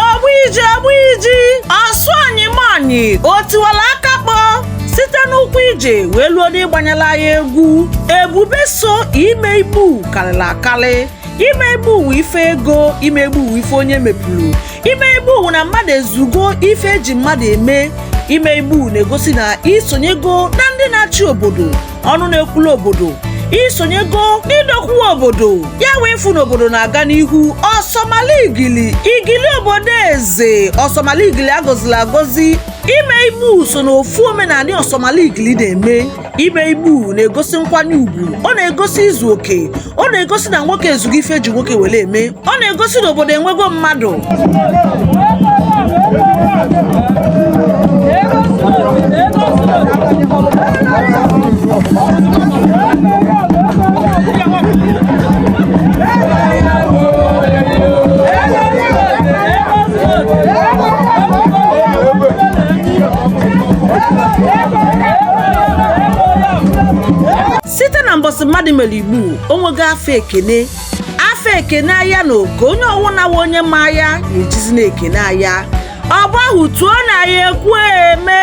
ogbuiji ogbuiji ọsụ anyị manyị o tiwala aka kpọ site n'ụkwụ ije wee luo n'ịgbanyela anyị egwu ebube so ime igbu kalịlị akalị ime igbu wụ ife ego ime igbu wụ ife onye mepụlụ ime igbu wụ na mmadụ ezugo ife eji mmadụ eme ime igbu na-egosi na i sonyego na ndị na-achị obodo ọnụ na-ekwulu obodo i sonyego n'idokwa obodo ya wee fụ na obodo na-aga n'ihu ọsọmala igili igili obodo eze ọsọmala igili a gọzili agọzi ime igbu so na ofu omenanị ọsọmala igili na-eme ime igbu na-egosi nkwanye ugwu ọ na-egosi izu oke ọ na-egosi na nwoke ezugo ife eji nwoke wele eme ọ na-egosi na obodo enwego mmadụ site na mbọsị mmadụ mere igbu o nwego afa ekene afa ekene ya na oke onye ọwụna wa onye ma ya ya ejizi na-ekene ya ọgbọ ahụ tuo na ya ekwueme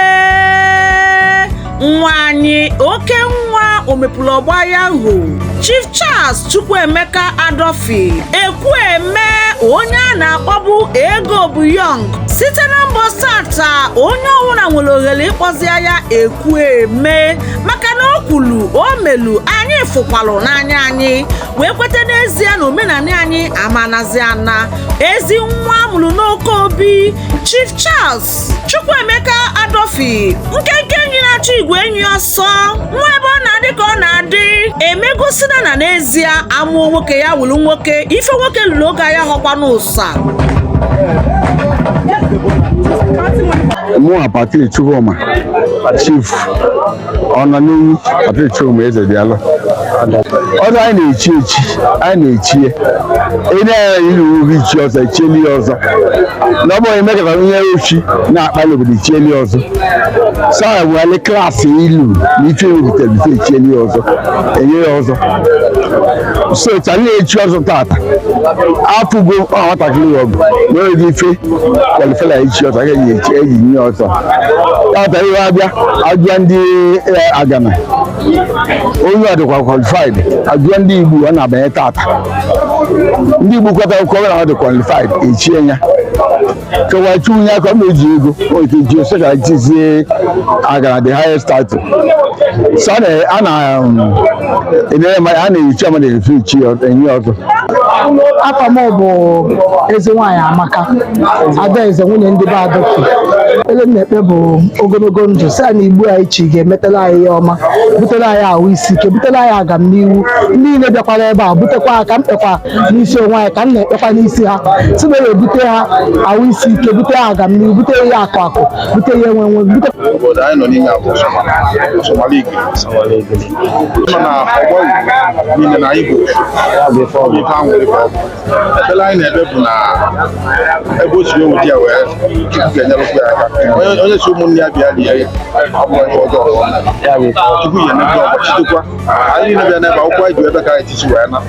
nwa anyị oke nwa omepụlụ ọgbọ ya hụ chief charles chukwuemeka adọfi ekwueme onye a na-akpọbu ego bụ yọng site na mbọsị taa onye ọwụna nwere ohere ịkpọzi ya ekwueme maka na o kwulu o melu anyị fụkwalụ n'anya anyị wee kweta n'ezie na omenanị anyị amanazi ana ezi nwa amụrụ n'oke obi Chief Charles Chukwuemeka Adofi nkenke enyi na-achụ igwe enyi ọsọ nwa ebe ọ na-adị ka ọ na-adị emegosina na n'ezie amụọ nwoke ya wụrụ nwoke ife nwoke lụrụ oge ya họkwa n'ụsa mụ apati chukwuma chief ọ nọ n'iyi ọtụtụ ụmụ eze dị alụ ọzọ anyị na-echi echi anyị na-echi ya ịna ya iri uwe ichi ọzọ echieli ya ọzọ na ọ bụghị mekọta ihe ochi na-akpali obodo echieli ya ọzọ sa wele klaasị ilu na ife ewepụtara bite echieli ya ọzọ enye ya ọzọ so chara na-echi ọzọ tata afụgo ọ nwatakịrị ọgụ na oge ife kwalifela ichi ọzọ ga-eji eji nye ọzọ tata ihe abịa ajụọ ndị eh, agana onye ọ dịkwa qualified ajụọ ndị igbu ọ na-abanye tata ndị igbu kwetakwa na ọ dị qualified echie ya kewa chinye aka ma eji ego oke ji ose ka chizie agana the highest title so a na- a na um, enyere mmadụ a na-ehicha mmadụ efe ichi enye ọzọ afa m bụ ezi nwaanyị amaka adaeze nwunye ndị be adọki ele na-ekpe bụ ogologo ndụ si anyị igbu anyị chi ga-emetela anyị ihe ọma butere anyị ahụ isi ike butere anyị agamnihu ndị niile bịakwara ebe a butekwa ha ka m kpekwa n'isi onwe anyị ka m na-ekpekwa n'isi ha si na ebute ha ahụ isi ike bute ha agamnihu bute ihe akụ akụ bute ihe enwe enwe bute obodo anyị nọ n'ime ya bụ Somaligwe nọ na ọgbọ Igbo niile na Igbo ife ahụ nwere ka ọ bụ ekpere anyị na-ekpe bụ na ebe o si ewu di ya wee Chukwu ga-enyerụkwu ya aka Onye- onye sị ụmụnne ya bịa lie ya ọ bụrọ ihe ọjọọ ka ọ na-eme. Chukwu ga-enye ndị ọgbachitekwa anyị niile bịa n'ebe akwụkwọ anyị ji ebe ka anyị tisi wee na